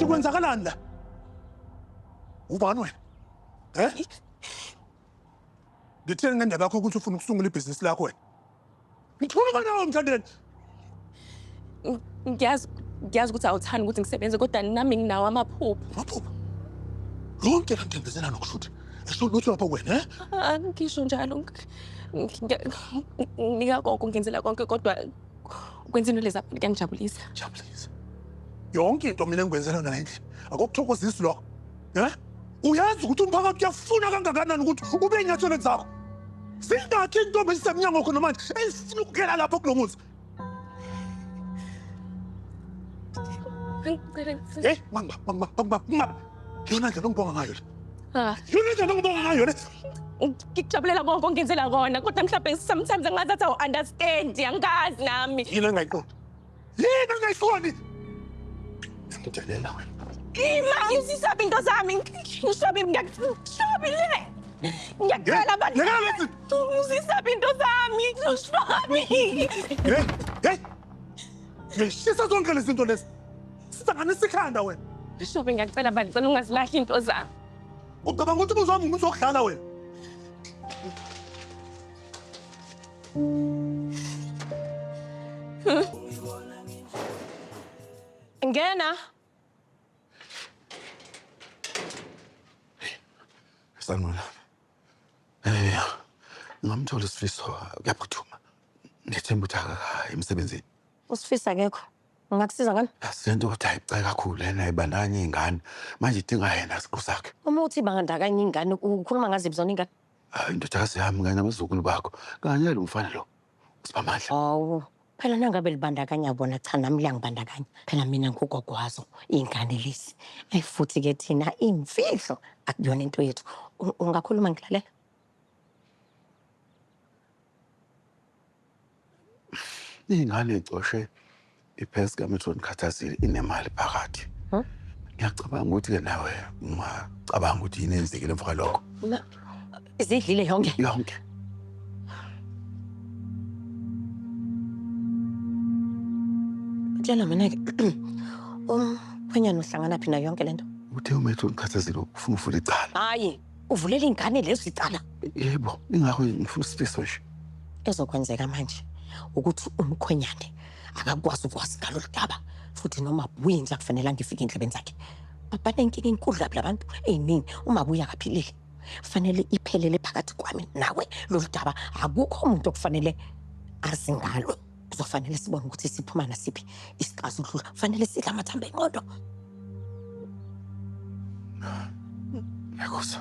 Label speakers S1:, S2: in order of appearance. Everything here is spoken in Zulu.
S1: Kwenzakalani la? Ubani wena? Eh? Ngithini ngendaba yakho ukuthi ufuna ukusungula ibhizinisi lakho wena? Ngikhuluma nawe mthandeni.
S2: Ngiyazi ngiyazi ukuthi awuthandi ukuthi ngisebenze kodwa nami nginawo amaphupho. Amaphupho?
S1: Lonke la ntembezela nokushuthi. Esho lutho lapho wena, eh? Angisho njalo.
S2: Nginika konke ngenzela konke kodwa ukwenza into lezi abantu kuyangijabulisa jabulisa
S1: yonke into mina engikwenzela yona endlini akokuthokozisi lokho um uyazi ukuthi umphakathi uyafuna kangakanani ukuthi ube enyathelweni zakho zingakhi intombi ezisemnyango khona manje ezifuna ukukela lapho kulo muzi Ngicela ngicela. Eh, mama, mama, mama, mama. Yona ndlela ongibonga ngayo le. Ah. Yona ndlela ongibonga ngayo le. Ngikujabulela
S2: konke ongenzela kona kodwa mhlawumbe sometimes angazi athi awu-understand angazi nami. Yini engayiqondi?
S1: Yini engayiqondi? Ngidelela wena. Ima ngizisaba
S2: into zami ngishabe ngiyakushabe le. Ngiyakhala abantu. Ngiyakhala lezi. Ngizisaba into zami ngishabe. Hey,
S1: hey. Ngishisa zonke lezi zinto lezi. Sihlanganisa ikhanda wena. Bishop ngiyacela
S2: bani cela ungazilahli into zami. Ucabanga ukuthi
S1: umuzwa wami umuntu wokudlala wena.
S2: Ngena.
S3: Sanwela. Eh, ngamthola isifiso kuyaphuthuma. Ngethemba ukuthi akakayi emsebenzini. Usifisa akekho.
S4: Ngingakusiza ngani? Asizento ukuthi ayibucayi
S3: kakhulu lena ibandakanya iy'ngane. Manje idinga yena siqu sakhe. Uma uthi ibandakanya
S4: iy'ngane ukhuluma ngaziphi zona iy'ngane? Hhayi indodakazi yami
S3: kanye nabazukulu bakho kanye nalo mfana lo uSiphamandla. Hawu,
S4: phela nangabe libandakanya bona cha nami liyangibandakanya. Phela mina ngugogo wazo iy'ngane lezi. Ayi futhi ke thina iy'mfihlo akuyona into yethu. U- Ungakhuluma ngilalela?
S3: Ingane icoshe iphesi kaMetron Khathazile inemali phakathi. Ngiyacabanga ukuthi-ke nawe ungacabanga ukuthi yini eyenzekile emva kwalokho.
S4: Izidlile yonke? Yonke. Tshela mina-ke umkhwenyana uhlanganaphi nayo yonke le nto? Uthe uMetron
S3: Khathazile ufuna uvula icala. Hhayi. uvulela
S4: ingane lezi icala yebo ingakho
S3: ngifuna isifiso nje ezokwenzeka
S4: manje ukuthi umkhwenyane akakwazi ukwazi ngalolu daba futhi noma buyinja kufanele angifike endlebeni zakhe babanenkinga enkulu kabi labantu eyinini uma buya kaphilile fanele iphelele phakathi kwami nawe lolu daba akukho umuntu okufanele azi ngalo Kuzofanele sibone ukuthi siphuma nasiphi isixazululo. Kufanele sidle amathambo enqondo.
S3: Nyakuza.